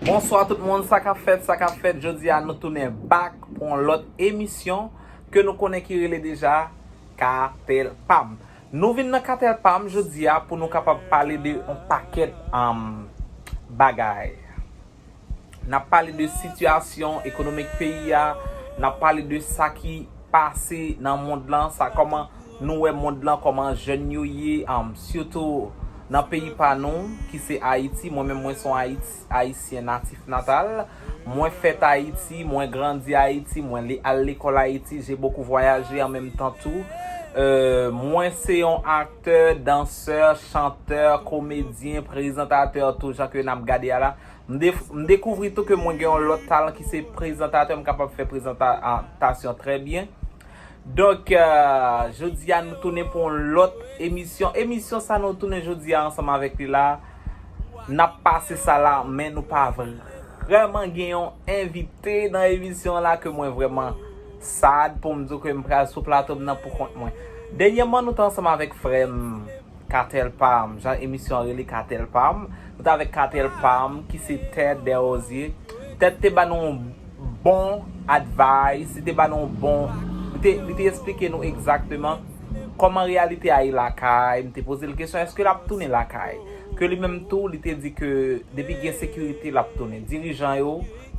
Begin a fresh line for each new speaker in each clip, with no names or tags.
Bonswa tout moun sa kap fèt sa kap fèt jodi a nou tounen back pou yon lòt emisyon ke nou konnen ki rele deja katèl pam nou vin nan katèl pam jodi a pou nou kapab pale de yon pakèt bagay nap pale de sitiyasyon ekonomik peyi a nap pale de sa ki pase nan mond lan sa kòman nou wè mond lan kòman jèn yo ye sitou nan peyi pa nou ki se ayiti mwen menm mwen son ayisyen natif natal mwen fèt ayiti mwen grandi ayiti mwen al lekòl ayiti je bokou vwayaje an menm tan tou mwen se yon aktè dansè chantè komedyen prezantatè tou jan ke nap gade a la M dekouvri tou ke mwen gen yon lòt talan ki se prezantatè, m kapab fè prezantasyon trè byen. Donk, jodi a nou tounen pou yon lòt emisyon. Emisyon sa nou tounen jodi a ansanm avèk li la, n ap pase sa la, men nou pa vrèman gen yon envite nan emisyon an la ke mwen vrèman sad pou m di w ke m pral sou plato m nan pou kont mwen. Dènyèman nou te ansanm avèk frè m. Katèl Pam, jan emisyon an rele Katèl Pam, nou t avèk Katèl Pam ki se Ted Desrosiers. Ted te ba nou yon bon advice, li te ba nou yon bon, li te esplike nou egzakteman kòman reyalite a ye lakay, m te poze l kesyon èske l ap tounen lakay. Ke li menm tou li te di ke depi gen sekirite l ap tounen. Dirijan yo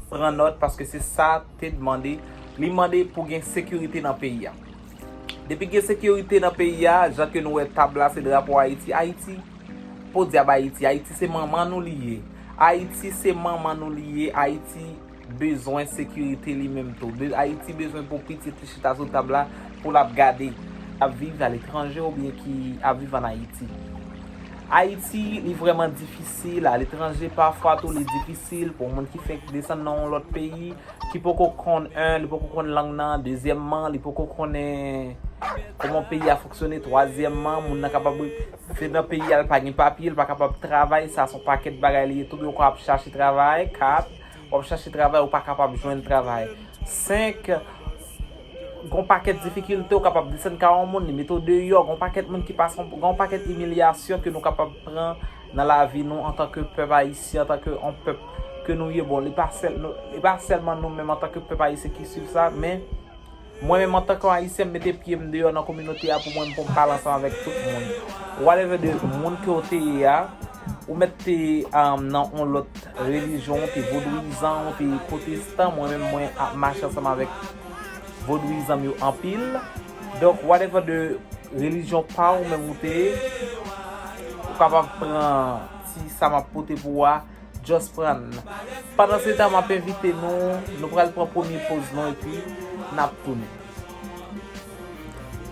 pran nòt paske se sa Ted mande, li mande pou gen sekirite nan peyi a. Depi gen sekirite nan peyi a, jan ke nou wè tab la se drapo Ayiti, Ayiti, podyab Ayiti, Ayiti se manman nou li ye, Ayiti se manman nou li ye, Ayiti bezwen sekirite li menm tou, Ayiti bezwen pou pitit li chita sou tab la pou l ap gade. Ap viv aletranje oubyen ki ap viv an Ayiti. Ayiti li vrèman difisil aletranje pafwa tou li difisil pou moun ki fenk desann nan yon lòt peyi. ki poko konn 1 li poko konn lang nan dezyèmman li poko konnen kòman peyi a fonksyone twazyèmman moun nan kapab se nan peyi a li pa gen papye li pa kapab travay sa son pakèt bagay li ye tou oubyen ou kapab chache travay 4 w ap chache travay ou pa kapab jwenn travay 5 gon pakèt difikilte ou kapab desann ka yon moun li mete w deyò gon pakèt moun ki pa san gon pakèt imilyasyon ke nou kapab pran nan lavi nou antan ke pèp ayisyen, antan ke yon pèp ke nou ye, bon li pa sèl, li pa sèlman nou menm antan ke pèp ayisyen ki swiv sa, men mwen menm antan ke yon ayisyen m mete pye m deyò nan kominote a pou mwen pou m pale ansanm avèk tout moun, whatever de moun ke w te ye a, ou mèt te nan yon lòt relijyon, ou te vodouyizan, ou te pwotestan, mwen menm mwen ap mache ansanm avèk vodouyizan m yo anpil. Donk whatever de religion pa ou menm ou te ye ou kapab pran ti sa map pote pou ou a just prann. Pandan se tan map envite nou nou pral pran premye poz nou epi nap tounen.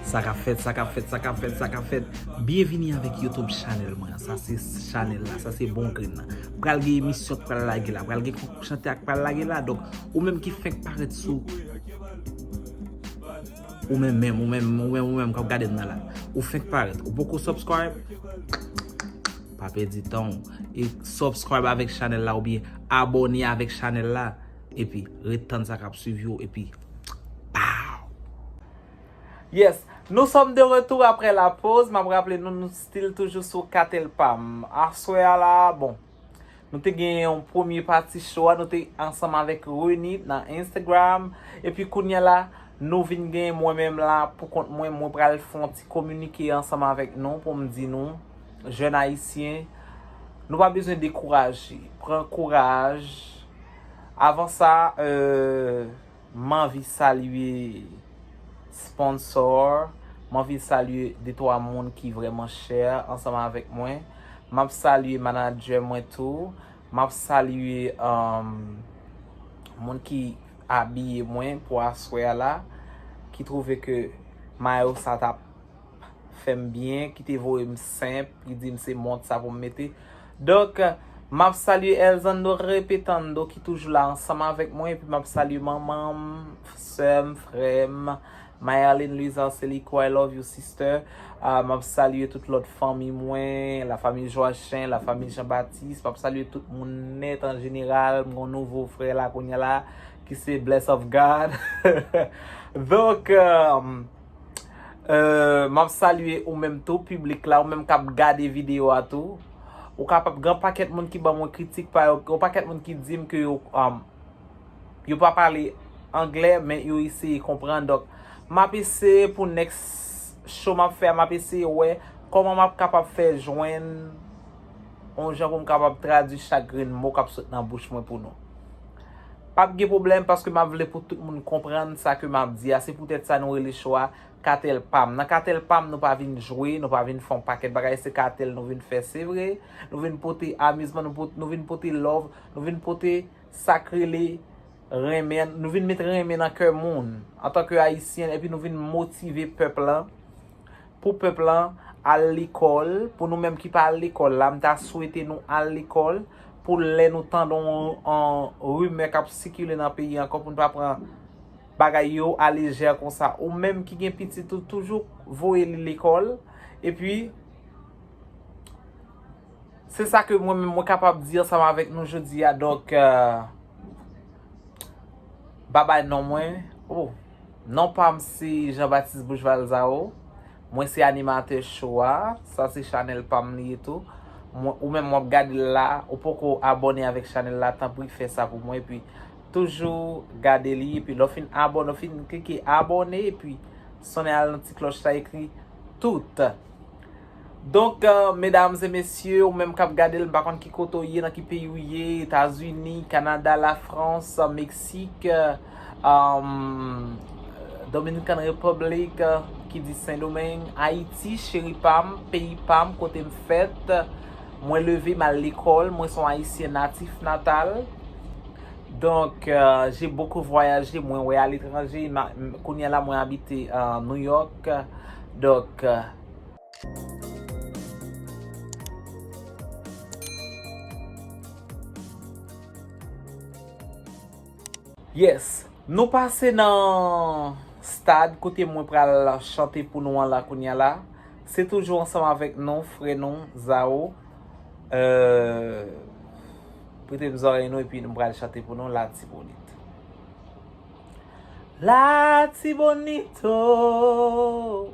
Sa kap fèt, sa kap fèt, sa kap fèt, sa kap fèt. Byenvini avèk YouTube channel mwen an. Sa se channel la, sa se bon grenn nan. Pral gen emisyon k pral lage la, pral gen konkou chante ak pral lage la. Donk ou menm ki fenk parèt sou. Ou menm menm, ou menm, ou menm, ou menm kap gade m nan la. Ou fenk parèt, ou poko subscribe? Pa pèdi tan w. E subscribe avèk chanèl la oubyen abone avèk chanèl la. Epi, ret tann sa kap swiv yo. Epi, pow! Yes, nou sòm de retou aprè la poz. Map raple nou, nou stil toujou sou Katelpam. Aswè a la, bon. Nou te gen yon premye pati show a, nou te ansanm avèk Renit nan Instagram. Epi kounya la, nou vin gen mwen menm la pou kont mwen, mwen pral fè yon ti kominike ansanm avèk nou pou m di nou, jèn ayisyen, nou pa bezwen dekouraje. Pran kouraj. Avan sa, M anvi salye sponsor, m anvi salye de twa moun ki vrèman chè ansanm avèk mwen. M ap salye manadjè mwen tou. M ap salye moun ki abiye mwen pou aswè a la, ki twouve ke mayo sa t ap fè m byen, ki te voye m senp, ki di m se mont sa pou m mete. Donk, m ap salye Elzando Repetando ki toujou la ansanm avèk mwen epi m ap salye manman m, sè m, frè m, Mayerline Louise Arcelico, I love you sister. M ap salye tout lòt fanmi mwen, la famille Joachin, la famille Jean Baptiste, m ap salye tout moun nèt an jeneral, m gen yon nouvo frè la kounya la ki se Bless of God. Donk. M ap salye ou menm tou piblik la, ou menm k ap gade videyo a tou. Ou kapab gen yon pakèt moun ki ban mwen kritik pa yo, gen yon pakèt moun ki di m ke yo yo pa pale angle men yo eseye konprann. Donk, m ap eseye pou next show m ap fè a, m ap eseye wè kòman m ap kapab fè jwenn yon jan pou m kapab tradui chak grenn mo k ap sot nan bouch mwen pou nou. Pap gen pwoblèm paske map vle pou tout moun konprann sa ke map di a se pou tèt sa nou rele show a katèl pam nan katèl pam nou pa vin jwe nou pa vin fon pakèt bagay se katèl nou vin fè se vre nou vin pote amizman nou vin pote love nou vin pote sak rele renmen nou vin met renmen nan kè moun antanke ayisyen epi nou vin motive pèp lan pou pèp lan al lekòl, pou nou menm ki pa al lekòl la, m ta swete nou al lekòl, pou lè nou tande yon rimè k ap sikile nan peyi ankò pou nou pa pran bagay yo alejè konsa. Ou menm ki gen pitit ou toujou voye li lekòl, epi se sa ke mwen menm mwen kapab di ansanm avèk nou jodi a, donk babay non mwen. Non pam se Jean Baptiste Bouch Valzao, mwen se animatè cho a, sa se chanèl pam li ye tou, ou menm wap gadel la ou poko abòne avèk chanèl la tanpri fè sa pou mwen epi toujou gade li epi lè w fin abòne w fin klike abòne epi sonnen al nan ti klòch la ekri tout. Donk medam e mesye ou menm kap gadel m pa konn ki kote ou ye nan ki peyi ou ye etazini kanada la frans meksik um dominican republic ki di sendomeng ayiti cheri pam peyi pam kotem fèt mwen leve mal lekol mwen son ayisyen natif natal donk je bokou vwayaje mwen wè aletranje kounya la mwen abite nouyok donk. Yes, nou pase nan stad kote mwen pral chante pou nou an la kounya la. Se toujou ansanm avèk nou, frè nou, Zao. Euh, prete m zòrèy nou epi nou pral chante pou nou Latibonit. Latibonit o!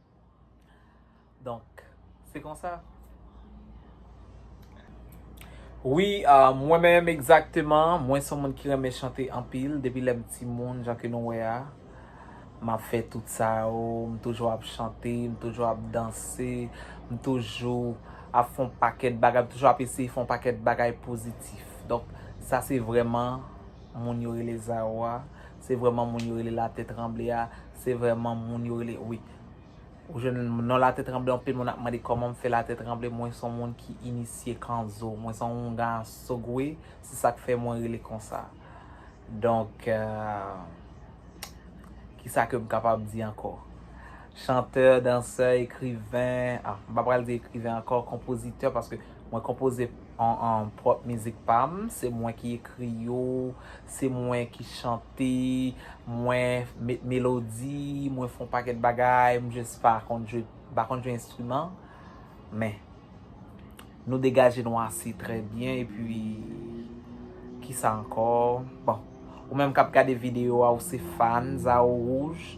Donk, se konsa. Wi, mwen menm egzakteman, mwen son moun ki renmen chante anpil, depi lèm ti moun, jan ke nou wè a, m ap fè tout sa yo, m toujou ap chante, m toujou ap danse, m toujou ap fon pakèt bagay, m toujou ap eseye fon pakèt bagay pozitif. Donk, sa se vreman moun yo rele Zawa, Se vreman moun yo rele la tè tranble a. Se vreman moun yo rele wi. Ou jwenn non la tè tranble anpil moun ap mande koman m fè la tè tranble. Mwen son moun ki inisye kanzo. Mwen son yon ga sogwe. Se sak fè mwen rele konsa. Donk ki sa ke m kapab di anko. Chantè, dansè, ekriven. Ah m pa pral di ekriven anko. Konpozitè paske mwen konpoze an an prop mizik pa m. Se mwen ki ekri yo. Se mwen ki chante, mwen met melodi, mwen fon paket bagay, m just pa konn jwe, m pa konn jwe enstriman, men nou degaje nou ase trè byen epi kisa ankò bon ou menm kap gade video a ou se fans a ou rouj.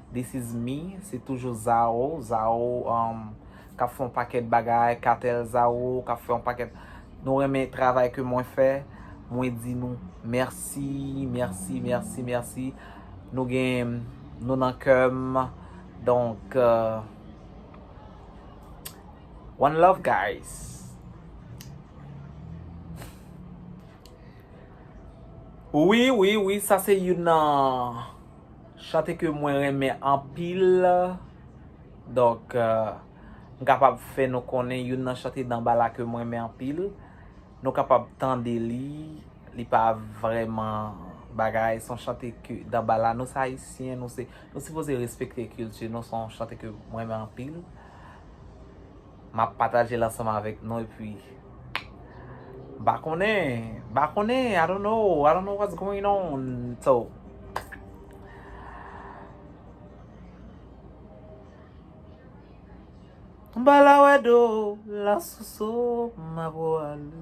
this is me, se toujou Zao, Zao um kap fè yon pakèt bagay, Katel Zao kap fè yon pakèt, nou renmen travay ke mwen fè, mwen di nou mèsi, mèsi, mèsi, mèsi, nou gen nou nan kèm, donk uh one love guys. Wi, wi, wi, sa se youn nan. Chante ke mwen renmen anpil. Donk, m kapab fè nou konnen youn nan chante Danbala ke m renmen anpil. Nou kapab tande li, li pa vrèman bagay. Son chante ke Danbala, nou se Ayisyen, nou se, nou sipoze respekte kilti nou. Son chante ke m renmen anpil. Map pataje l ansanm avèk nou epi m pa konnen, m pa konnen, I don't know, I don't know what's going on, so M pa la wè do la soso m ap wale.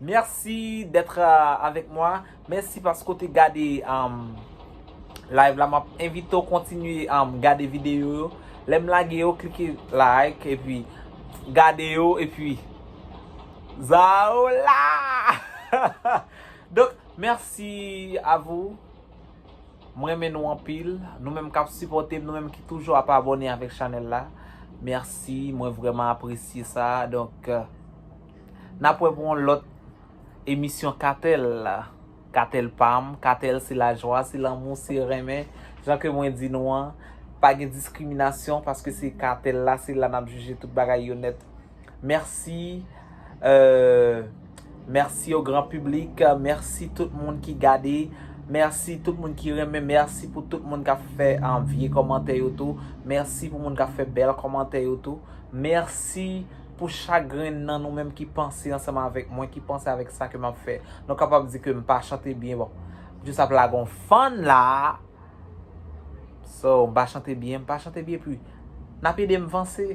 Merci d'être avec moi. Mèsi paske w te gade live la. M ap envite w kontinye gade videyo yo. Lè m lage yo, klike like epi gade yo epi Za ou la! Donk, mèsi a vou. M renmen nou anpil. Nou menm k ap sipòte m, nou menm ki toujou ap abòne avèk chanèl la. Mèsi, mwen vrèman apresye sa. Donk. Nap wè pou yon lòt emisyon katèl la. Katèl pam, katèl se lajwa, se lanmou, se renmen. Jan ke mwen di nou an, pa gen diskriminasyon paske se katèl la, se la nap jije tout bagay yo nèt. Mèsi, mèsi o gran piblik, mèsi tout moun ki gade, mèsi tout moun ki renmen, mèsi pou tout moun kap fè vye kòmantè yo tou, mèsi pou moun kap fè bèl kòmantè yo tou, mèsi. Pou chak grenn nan nou menm ki panse ansanm avèk mwen, ki panse avèk sa ke map fè, nou kapab di ke m pa chante byen bon. M jis ap lage yon fun la. So, m pa chante byen, m pa chante byen pu. Nap ede m vanse.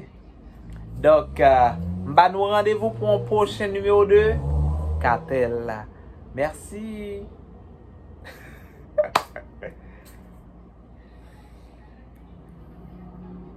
Donk, m ba nou randevou pou yon pwochen nimewo de Katèl. Mèsi.